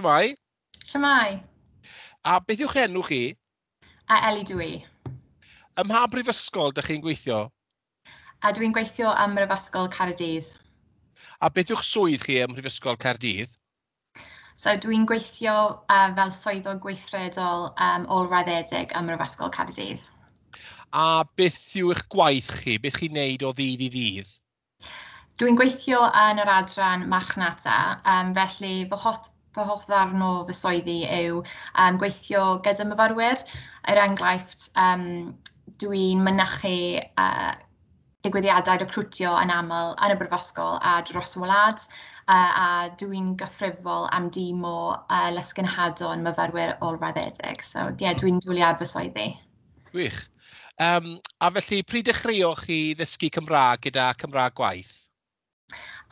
Shwmai. Shwmai. A beth yw'ch enw chi? A Eli dwi. i. Ym mha brifysgol ydych chi'n gweithio? A dwi'n gweithio ym Mhrifysgol Caerdydd. A beth yw'ch swydd chi ym Mhrifysgol Caerdydd? So dwi'n gweithio uh, fel swyddog gweithredol um, ôl-raddedig ym Mhrifysgol Caerdydd. A beth yw eich gwaith chi? Beth chi'n neud o ddydd i ddydd? Dwi'n gweithio yn yr adran marchnata, yym felly fy hoff- fy hoff ddarn o fy swyddi yw yym gweithio gyda myfyrwyr, er enghraifft yym dwi'n mynychu yy digwyddiadau recriwtio yn aml yn y Brifysgol a dros y wlad, yy a dwi'n gyfrifol am dîm o yy lesgenhadon myfyrwyr olfraddedig, so ie dwi'n dwlu ar fy swyddi. Gwych. Um, a felly, pryd dechreuoch chi ddysgu Cymraeg gyda Cymraeg Gwaith?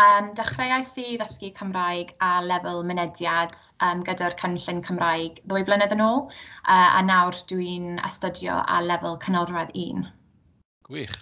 Um, dechreuais i ddysgu Cymraeg a lefel mynediad um, gyda'r cynllun Cymraeg ddwy flynedd yn ôl, uh, a nawr dwi'n astudio a lefel cynorwedd un. Gwych.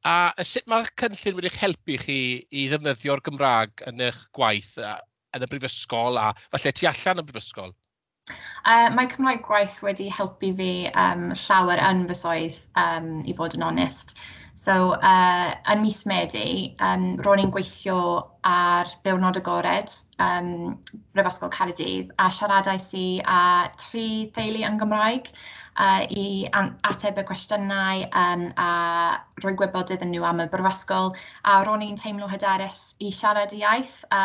A sut mae'r cynllun wedi'ch helpu chi i ddefnyddio'r Gymraeg yn eich gwaith yn y brifysgol a falle tu allan y brifysgol? Uh, mae Cymraeg gwaith wedi helpu fi um, llawer yn fy swydd, um, i fod yn onest. So, uh, yn mis Medi, um, ro'n i'n gweithio ar ddiwrnod agored um, Brifysgol Caerdydd a siaradais i â tri theulu yn Gymraeg uh, i ateb y cwestiynau um, a rhoi gwybod iddyn nhw am y brifysgol a ro'n i'n teimlo hyderus i siarad y iaith a